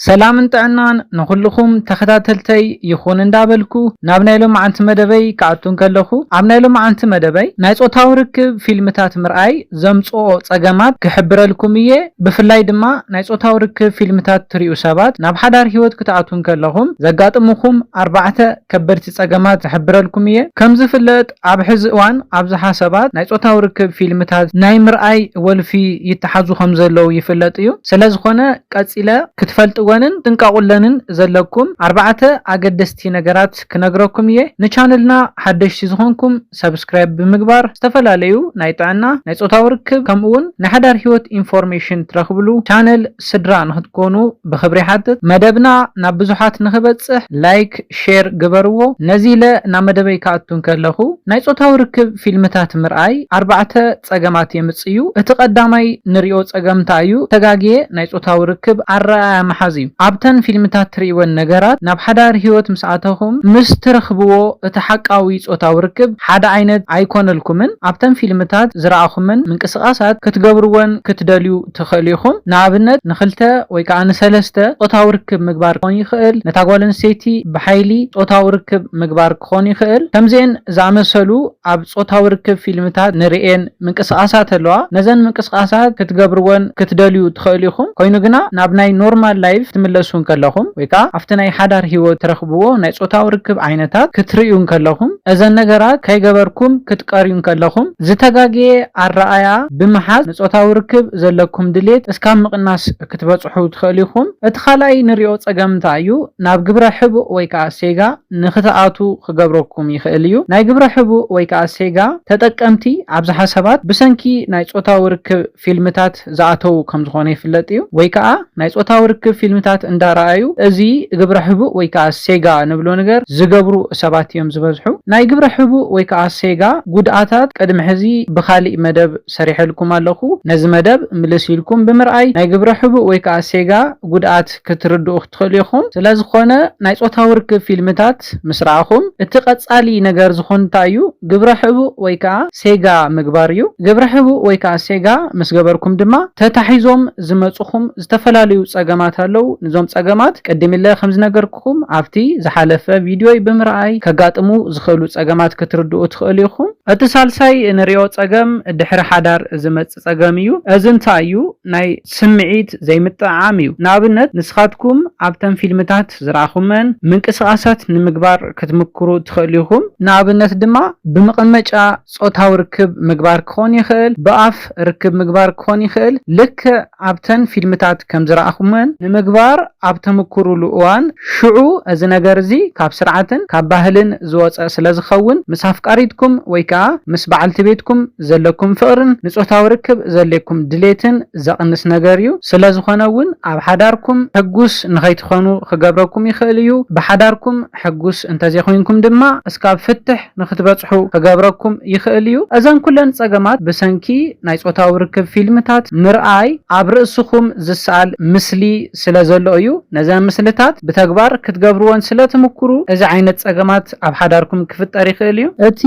ሰላምን ጥዕናን ንኹሉኹም ተኸታተልተይ ይኹን እንዳበልኩ ናብ ናይ ሎምዓንቲ መደበይ ክኣቱ እንከለኹ ኣብ ናይ ሎምዓንቲ መደበይ ናይ ጾታዊ ርክብ ፊልምታት ምርኣይ ዘምጽኦ ጸገማት ክሕብረልኩም እየ ብፍላይ ድማ ናይ ጾታዊ ርክብ ፊልምታት ትሪኡ ሰባት ናብ ሓዳር ሂወት ክትኣትዉ እንከለኹም ዘጋጥሙኹም ኣርባዕተ ከበድቲ ጸገማት ክሕብረልኩም እየ ከም ዝፍለጥ ኣብ ሕዚ እዋን ኣብዝሓ ሰባት ናይ ፆታዊ ርክብ ፊልምታት ናይ ምርኣይ ወልፊ ይተሓዙ ከምዘለው ይፍለጥ እዩ። ስለዝኾነ ቀፂለ ክትፈልጥወንን ክትጥንቀቁለንን ዘለኩም ኣርባዕተ ኣገደስቲ ነገራት ክነግረኩም እየ። ንቻነልና ሓደሽቲ ዝኾንኩም ሰብስክራይብ ብምግባር ዝተፈላለዩ ናይ ጥዕና፣ ናይ ፆታዊ ርክብ ከምኡውን ናይ ሓዳር ሂወት ኢንፎርሜሽን ትረኽብሉ ቻነል። ስድራ ንክትኮኑ ብክብሪ ይሓትት መደብና ናብ ብዙሓት ንክበጽሕ ላይክ ሼር ግበርዎ ነዚ ኢለ ናብ መደበይ ክኣቱ እንከለኩ ናይ ጾታዊ ርክብ ፊልምታት ምርኣይ ኣርባዕተ ጸገማት የምጽእ እዩ እቲ ቀዳማይ ንሪኦ ጸገም እንታይ እዩ ተጋግየ ናይ ጾታዊ ርክብ ኣረኣእያ ምሓዝ እዩ ኣብተን ፊልምታት ትሪእወን ነገራት ናብ ሓዳር ሂወት ምስ ኣተኩም ምስ ትረክብዎ እቲ ሓቃዊ ጾታዊ ርክብ ሓደ ዓይነት ኣይኮነልኩምን ኣብተን ፊልምታት ዝረኣኩመን ምንቅስቃሳት ክትገብርወን ክትደልዩ ትኸእሉ ኢኹም። ንኣብነት ንክልተ ወይ ከኣ ንሰለስተ ጾታዊ ርክብ ምግባር ክኾን ይኸእል፣ ነታ ጓል ኣንስተይቲ ብሓይሊ ጾታዊ ርክብ ምግባር ክኾን ይኸእል። ከምዚኤን ዝኣመሰሉ ኣብ ጾታዊ ርክብ ፊልምታት ንርእየን ምንቅስቃሳት ኣለዋ። ነዘን ምንቅስቃሳት ክትገብርወን ክትደልዩ ትኸእሉ ኢኹም። ኮይኑ ግና ናብ ናይ ኖርማል ላይፍ ክትምለሱ እንከለኹም ወይ ከኣ ኣብቲ ናይ ሓዳር ህይወት ትረኽብዎ ናይ ጾታዊ ርክብ ዓይነታት ክትርእዩ እንከለኹም እዘን ነገራት ከይገበርኩም ክትቀርዩ እንከለኹም ዝተጋገየ ኣረኣእያ ብምሓዝ ንጾታዊ ርክብ ዘለኩም ድሌት እስካብ ምቕናስ ክትበጽሑ ትኸእሉ ኢኹም። እቲ ካልኣይ ንሪኦ ጸገም እንታይ እዩ? ናብ ግብረ ሕቡእ ወይ ከኣ ሴጋ ንክትኣትዉ ክገብረኩም ይኸእል እዩ። ናይ ግብረ ሕቡእ ወይ ከኣ ሴጋ ተጠቀምቲ ኣብዝሓ ሰባት ብሰንኪ ናይ ጾታዊ ርክብ። ፊልምታት ዝኣተው ከምዝኾነ ይፍለጥ እዩ። ወይ ከኣ ናይ ጾታዊ ርክብ ፊልምታት እንዳ ረኣዩ እዚ ግብረ ሕቡእ ወይ ከኣ ሴጋ ንብሎ ንገር ዝገብሩ ሰባት እዮም ዝበዝሑ። ናይ ግብረ ሕቡእ ወይ ከኣ ሴጋ ጉድኣታት ቅድሚ ሕዚ ብኻሊእ መደብ ሰሪሐልኩም ኣለኹ ነዚ መደብ ምልስ ኢልኩም ብምርኣይ ናይ ግብረ ሕቡእ ወይ ከኣ ሴጋ ጉድኣት ክትርድኡ ትኽእሉ ኢኹም። ስለዝኾነ ናይ ጾታዊ ርክብ ፊልምታት ምስ ረኣኹም፣ እቲ ቀጻሊ ነገር ዝኹን እንታይ እዩ? ግብረ ሕቡእ ወይ ከኣ ሴጋ ምግባር እዩ። ግብረ ሕቡእ ወይ ከኣ ሴጋ ምስ ገበርኩም ድማ ተታሒዞም ዝመጹኹም ዝተፈላለዩ ጸገማት ኣለዉ። ንዞም ጸገማት ቅድሚለ ከም ዝነገርኩኹም ኣብቲ ዝሓለፈ ቪድዮይ ብምርኣይ ከጋጥሙ ዝኽእሉ ጸገማት ክትርድኡ ትኽእሉ ኢኹም። እቲ ሳልሳይ እንርእዮ ጸገም ድሕሪ ሓዳር ዝመጽእ። ጸገም እዩ እዚ እንታይ እዩ ናይ ስምዒት ዘይምጥዕዓም እዩ ንኣብነት ንስኻትኩም ኣብተን ፊልምታት ዝረኣኹመን ምንቅስቓሳት ንምግባር ክትምክሩ ትኽእሉ ኢኹም ንኣብነት ድማ ብምቐመጫ ጾታዊ ርክብ ምግባር ክኾን ይኽእል ብኣፍ ርክብ ምግባር ክኾን ይኽእል ልክዕ ኣብተን ፊልምታት ከም ዝረኣኹመን ንምግባር ኣብ ተምኩሩሉ እዋን ሽዑ እዚ ነገር እዚ ካብ ስርዓትን ካብ ባህልን ዝወጸ ስለ ዝኸውን ምስ ኣፍቃሪትኩም ወይ ከኣ ምስ በዓልቲ ቤትኩም ዘለኩም ፍቕርን ንጾታዊ ርክብ ዘልኩም ድሌትን ዘቕንስ ነገር እዩ። ስለዝኾነ እውን ኣብ ሓዳርኩም ሕጉስ ንኸይትኾኑ ክገብረኩም ይኽእል እዩ። ብሓዳርኩም ሕጉስ እንተዘይኮይንኩም ድማ እስካብ ፍትሕ ንክትበጽሑ ክገብረኩም ይኽእል እዩ። እዘን ኩለን ጸገማት ብሰንኪ ናይ ጾታዊ ርክብ ፊልምታት ምርኣይ ኣብ ርእስኹም ዝስኣል ምስሊ ስለዘሎ እዩ። ነዘን ምስልታት ብተግባር ክትገብርወን ስለትምኩሩ እዚ ዓይነት ጸገማት ጸገማት ኣብ ሓዳርኩም ክፍጠር ይኽእል እዩ። እቲ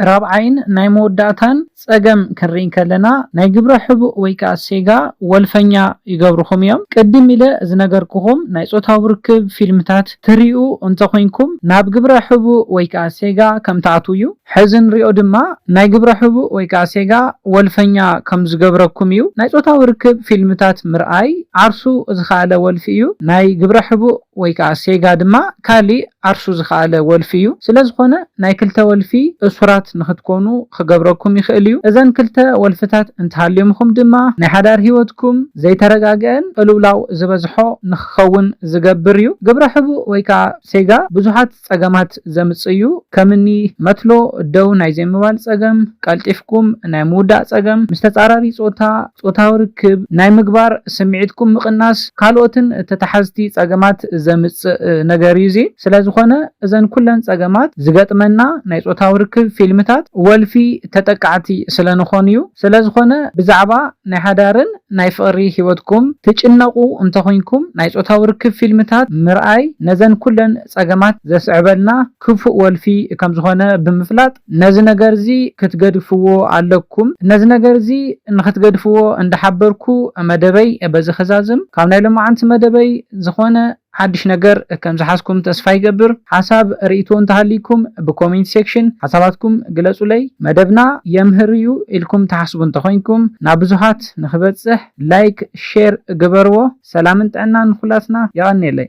ራብዓይን ናይ መወዳእታን ጸገም ክንርኢ ከለና ናይ ግብረ ሕቡእ ወይ ከኣ ሴጋ ወልፈኛ ይገብርኹም እዮም። ቅድም ኢለ ዝነገርኩኹም ናይ ጾታዊ ርክብ ፊልምታት ትሪኡ እንተ ኹንኩም ናብ ግብረ ሕቡእ ወይ ከኣ ሴጋ ከም ትኣትዉ እዩ። ሕዚ ንሪኦ ድማ ናይ ግብረ ሕቡእ ወይ ከኣ ሴጋ ወልፈኛ ከም ዝገብረኩም እዩ። ናይ ጾታዊ ርክብ ፊልምታት ምርኣይ ዓርሱ ዝኸኣለ ወልፊ እዩ። ናይ ግብረ ሕቡእ። ወይ ከኣ ሴጋ ድማ ካሊእ ዓርሱ ዝኸኣለ ወልፊ እዩ። ስለ ዝኾነ ናይ ክልተ ወልፊ እሱራት ንኽትኮኑ ኽገብረኩም ይኽእል እዩ። እዘን ክልተ ወልፍታት እንተሃልዮምኹም ድማ ናይ ሓዳር ህይወትኩም ዘይተረጋግኤን ቅልውላው ዝበዝሖ ንኽኸውን ዝገብር እዩ። ግብረ ሕቡእ ወይ ከኣ ሴጋ ብዙሓት ጸገማት ዘምጽእ እዩ፣ ከምኒ መትሎ ደው ናይ ዘይምባል ጸገም፣ ቀልጢፍኩም ናይ ምውዳእ ጸገም፣ ምስ ተጻራሪ ጾታ ጾታዊ ርክብ ናይ ምግባር ስምዒትኩም ምቕናስ፣ ካልኦትን ተታሓዝቲ ጸገማት ዘምጽእ ነገር እዩ እዚ። ስለዝኾነ እዘን ኩለን ጸገማት ዝገጥመና ናይ ጾታዊ ርክብ ፊልምታት ወልፊ ተጠቃዕቲ ስለንኾን እዩ። ስለዝኾነ ብዛዕባ ናይ ሓዳርን ናይ ፍቕሪ ሂወትኩም ትጭነቑ እንተኹንኩም ናይ ጾታዊ ርክብ ፊልምታት ምርኣይ ነዘን ኩለን ጸገማት ዘስዕበልና ክፉእ ወልፊ ከም ዝኾነ ብምፍላጥ ነዚ ነገርዚ ክትገድፍዎ ኣለኩም። ነዚ ነገርዚ ንኽትገድፍዎ እንዳሓበርኩ መደበይ በዚ ክዛዝም። ካብ ናይ ሎማዓንቲ መደበይ ዝኾነ ሓድሽ ነገር ከም ዝሓዝኩም ተስፋ ይገብር። ሓሳብ ርኢቶ እንተሃልይኩም ብኮሜንት ሴክሽን ሓሳባትኩም ግለጹለይ። መደብና የምህር እዩ ኢልኩም ትሓስቡ እንተኾይንኩም ናብ ብዙሃት ንኽበጽሕ ላይክ ሼር ግበርዎ። ሰላምን ጥዕናን ንኹላትና። የቐንየለይ።